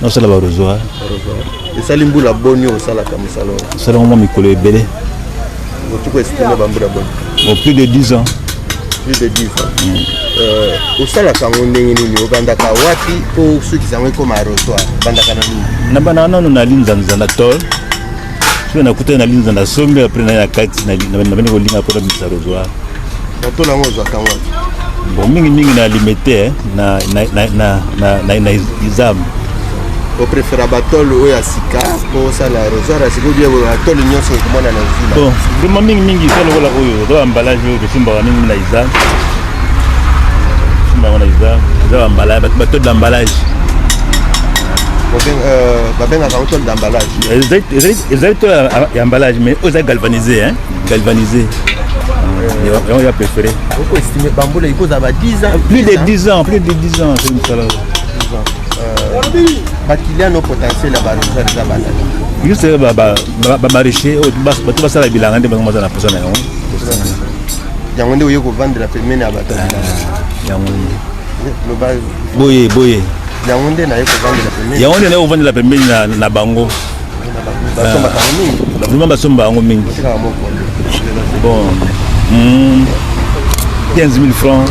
nasala barosoir esali mbula boni osalaka mosala oyo esalaka mwa mikolo ebele otuku esitime bambula boni bon plus de 10 ans plus de 10 ans mm. euh, osalaka yango ndenge nini obandaka wapi mpo osukisa yango ekoma rosoir obandaka na nini nabandaka nano na linzanza na tole soki nakutani na linda na sombi apres naye na kati nabandi kolinga mpo na bisa lozwa bato nango ozwaka ngo bon mingimingi na limete na izame oprefera batole oyo ya sika mpo osala rosar ya sika obie batole nyonso ekomona na zila bon vraiment mingimingi eza lokola oyo eza bambalage oyo tosimbaka mingi na izame simbango na izame eza bambalage batole d'ambalage babengaka ngo tole d'ambalage ezali to ya emballage mais oyo ezali galvanise hein? galvanise yango ya préféré okoestime bambula ekozala ba 10 ans plus de 10 ans plus de 10 ans soki mosala bakiliano potentiel ya barosar eza bana juste bamaraîcher oyo bato basala bilanga nde bango baza na posa na yango yango nde oye kovandela pembeni ya bato yango boye boye yango nde naye kovandela pembeni yango nde naye kovandela pembeni na, na bango vraiment basomba yango mingi bon 15 000 francs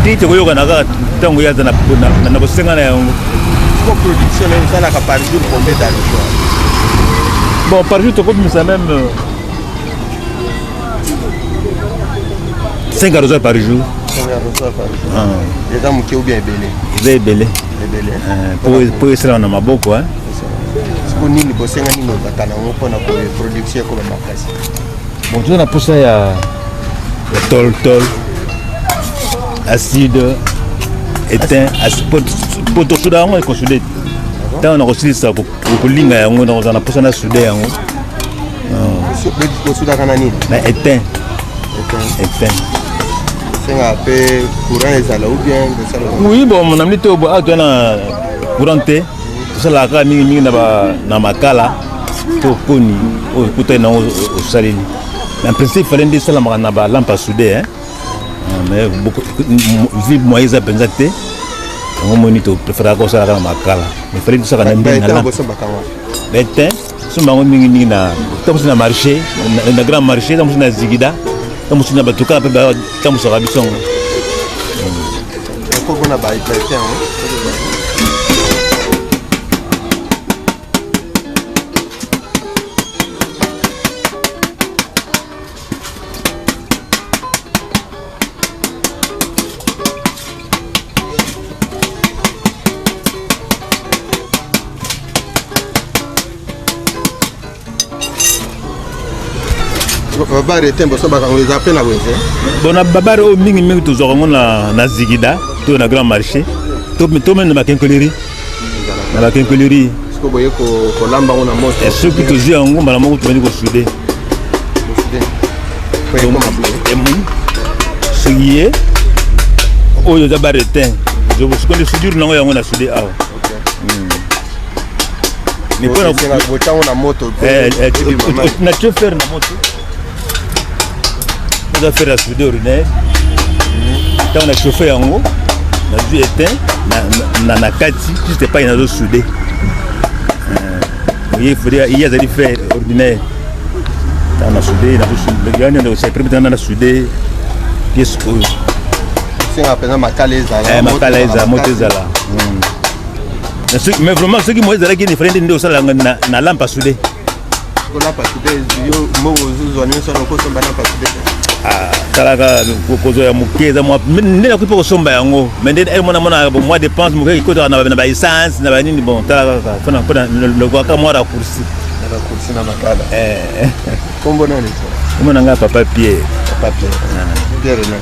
te tokoyokana kaka ntango ye aza na bosenga na yango bon par jour tokobimisa meme euh, 5 arrosage par jour ah. eza moke ou bien ebele eza ebele ah, po esala na maboko siko nini bosenga nini obata nango mpona production ekoba makasi bon toza na mposa ya toltol acide etain po tosuda yango ekosudete ntango nakosilisa okolinga yango nakozala na mposa na sude yango osudaka na nini na etin etin senga mpe courant ezala ou bien oui bon na mini te awa toya na courant te tosalaka kaka mingimingi na makala to koni oyo ekutani nango osaleli na principe fale nde esalamaka na balampe ya sude mais vie moyen eza mpenza te yango omoni topreferaka kosalaka na makala mais fali tosaka na ndinabete somba yango mingimingi na ntango na marché na grand marché ntango mosusu na zigida ntango mosusu na bato kaka mpe batambusaka biso yango babare te mboso bakango eza mpe na wenze bona babare oyo mingimingi tozwaka yango na zigida to na grand marché to mende makenkoleri na bakenkeleri soki tozwi yango mbala moko tobandi kosude soki ye oyo eza baretin soki nde sudure nango yango na sude awa na tio fere na moto oza faire ya soude urinaire ntango na chauffe yango nazwi eteint na, na kati juste epai nazo soude oye euh, ye azali faire ordinaire ntango na soude nazo soude yani ndeko cyprime ntango na soude pièce oyo senga mpenza makala ezala eh, makala ezala moto ezala hmm. mais vraiment soki moye ezalaki nefrende nde osalanga na lampe asude Ah, talaka kozo ya moke eza nde nakoki mpe kosomba yango me nde eh, mwana mwana mwa dépense moke ekotaka na baessence na banini bon talaka kaka mpona lokoaka mwa raccourci kombo na ngai papa pie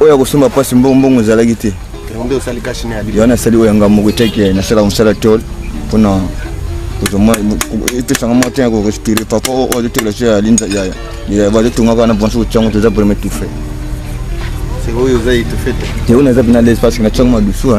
oyo akosomba mpasi mbongo mbongo ezalaki te yo nasali oyo yanga moko etaki nasalaka mosala tol mpona epesanga mwa ntina korespire papa oyo azotekela so ya linza yaya bazotongaka na banso kotiango toza vraimen etufe yango naza mpena lese parce que natiango madusu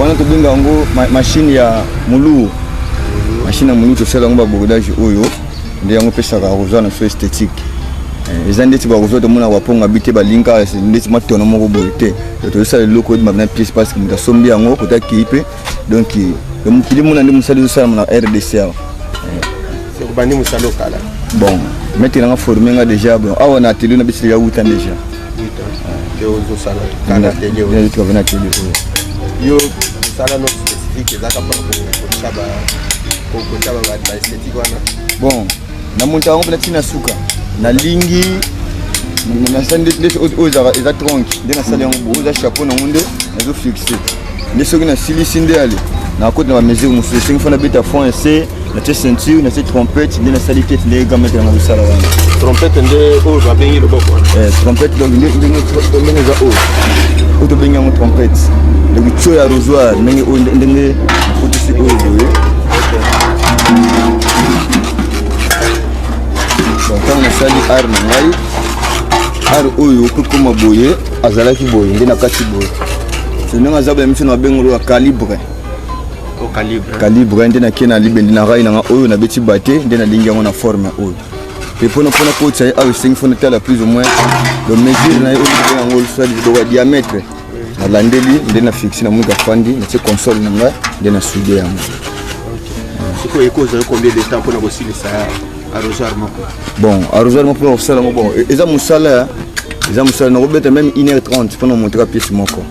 wana tobenga yango mashine ya moluu mashine ya moluu tosala yango babordage oyo nde yango epesaka rosa na so esthétique eh, eza ndeti barosa tomona baponga bi te balinga ndeti matono moko boye te tozosala eloko edi mabina piece parce que moto asombi yango kota kei mpe donc mokili mona nde mosali ezosalama na rdc awa obandi mosala okala bon mete nanga forme nga déjà bon awa na atelier na biso ya wuta déjà ozosala kaka atelier oyo tukave na atelier oyo yo mosala no spécifique ezaka mpo kokotisa ba kokotisa ba ba esthétique wana bon namonisa yango mpena ntina ya suka nalingi nasali nde oyo eza tronke nde nasali yango bo oza chapeau nango nde nazo fixe nde soki nasilisi nde ale nakoti na bamesure mosusu esengi fo nabeta fond ese natie ceinture natie trompete nde nasali tete nde gamete yanga kosala wana trompete nde oyo babengi loboko eh, trompete donc ndenge eza oyo oyo tobengi yango trompete donc tio ya rosoir ndenge oyo ndenge nakotisi oyo boye ntango nasali art na ngai art oyo okokoma boye azalaki boye nde na kati boye ndenge aza boye miso na bengolo ya calibre calibre nde nake na libendi na rai nanga oyo nabeti bate nde nalingi yango na forme oyo mpe mpona mpona kotisa ye awa esengi fo natala plus ou moins lo mesure na ye oyo libe yango losali liboko ya diamètre nalandeli nde na fixe na monika fandi natie console na ngai nde na sude yango sikoyo ekoki ozali combien de temps mpona kosilisa arrosoir moko bon arrosoir moko mpona kosala yango bon eza mosala eza mosala nakobeta meme 1 heure 30 mpona monteka pièce moko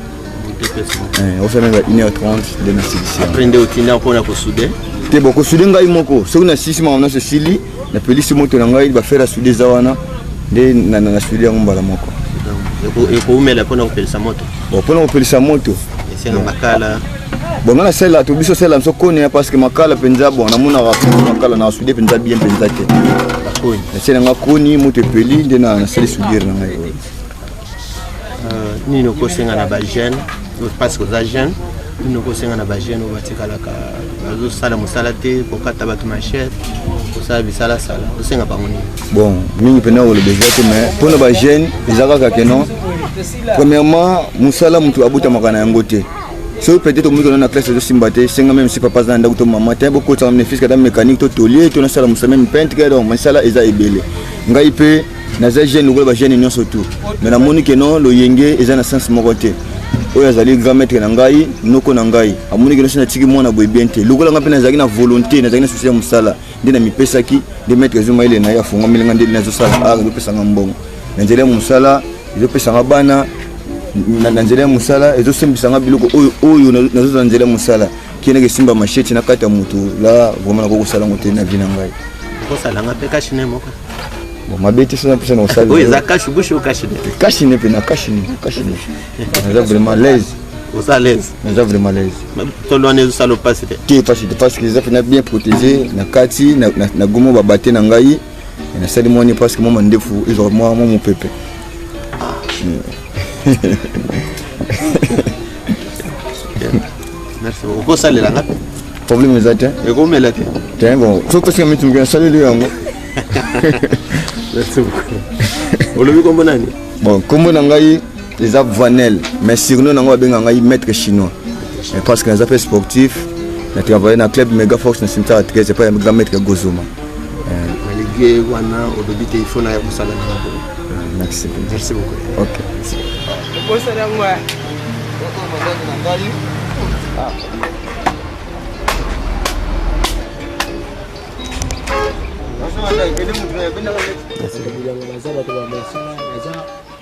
eh, ofia meme 1 heure 30 nde nasilisi après nde otinda mpona kosude te bon kosude ngai moko soki nasilisi makambo nyonso esili napelisi moto na ngai bafere asude eza wana nde nasude yango mbala moko ekoumela mpona kopelisa moto mpona kopelisa moto esenga makala bon nga nasalela to biso salela biso koni parce que makala mpenza bon namonaka makala na sude mpenza bien mpenza te nasala nga koni moto epeli nde nasali sudire na ngai euh, nini okosenga na bajeune parce que oza jeune nini okosenga na bajeune oyo batikalaka bazosala mosala te kokata bato machete kosala bisalasala osenga bango nini bon mingi mpenza koloba eza te mais mpo na bajeune eza kaka keno premièrement mosala moto abotamaka na yango te soki peut-être omoni kona na classe ezosimba te senga meme si papa aza na ndako to mama te bokotisaka mine fiske ata mécanique to tolie to nasala mosala meme peintre donc misala eza ebele ngai mpe naza jeune lokola bajeune nyonso tout mais namoni ke non loyenge eza na sense moko te oyo azali grand maître na ngai noko na ngai amoni ke nosi natiki mwana boye bien te lokola ngai mpe nazalaki na volonté nazalaki na susi ya mosala nde namipesaki nde maître azwi mayele na ye afongameli ngai nde nazosala art ezopesa ngai mbongo na nzela ya mosala ezopesa nga bana na nzela ya mosala ezosembisa nga biloko oyo oyo nazozala na nzela ya mosala kendeke esimba masheti na kati ya moto la vraimen nakoki kosala yango te na vi na ngai kosalanga mpe kashine moko bon mabe te sona mposa na kosalaoyo eza kashi bushi o kashine kashine mpe na kashine kashine naza vraiment laise oza laise naza vraiment laise tolo wana ezosala opasi te te pasi te parce que eza mpena bien protégé na kati na gomo babate na ngai na sali mwa ni presque mwa mandefu ezwa mwa mwa mopepe merci beaucoup okosalela nga problème eza te ekomela te te bon soki pesi kamiti moke nasaleli yango merci beaucoup olobi kombo nani bon kombo na ngai eza vanel mais surnom nango babenga ngai maître chinois mais parce que naza mpe sportif na travaille na club mega force na cimetière 13 epai ya grand maître ya gozoma ligue wana olobi te ifo na ya kosala na yango merci merci beaucoup ok okosala yango ya Merci.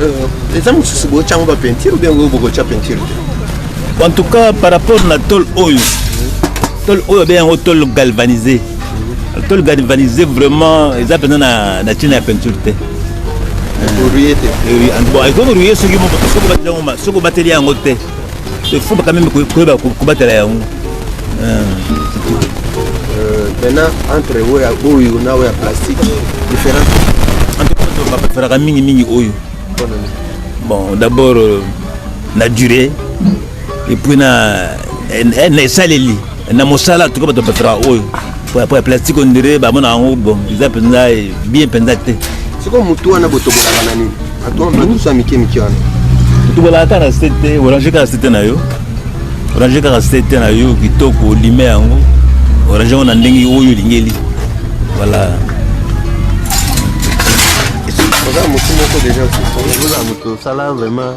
Euh, eza mosusu botyango bapentire ou bien oyo bokotya pentire te en tout cas par rapport na tole oyo tole oyo abe yango tole galvanise tole galvanise vraiment eza mpenza na ntina ya peinture te ekoruye soki obateli yango te Il faut quand même koyeba kobatela yango. Maintenant entre oyo oyo na oyo ya plastique différence. En tout cas bapreferaka mingi mingi oyo. Bon d'abord euh, na durée et puis na eh, na esaleli. na mosala tuka bato bapesaka oyo po ya plastique ondire bamona yango bon eza mpenza bien mpenza te sikoyo motu wana botobolaka na nini badusu ya mike mike wana totobolaka kaka na sete orange kaka sete na yo orange kaka sete na yo kitoko olime yango orange yango na ndenge oyo olingeli voilà oza motu moko deja oza motu osala vraiment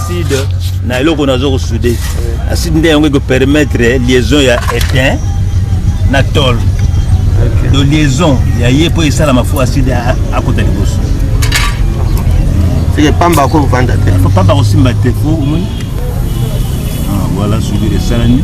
acide na eloko nazo kosude acide nde yango ekopermettre liaison ya etain na tol do liaison ya ye mpo esalama fo acide akota liboso seke pamba akovanda te pamba akosimba te fo omoni ah, voilà soudure esalami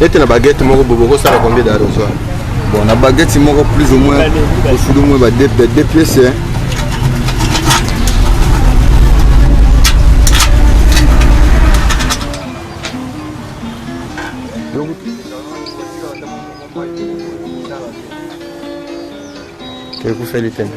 nete na baguette moko bobo kosala combien d'arrosoi bon na baguette moko plus ou moins osudi moins ba deux pièces hein. ekufeli tena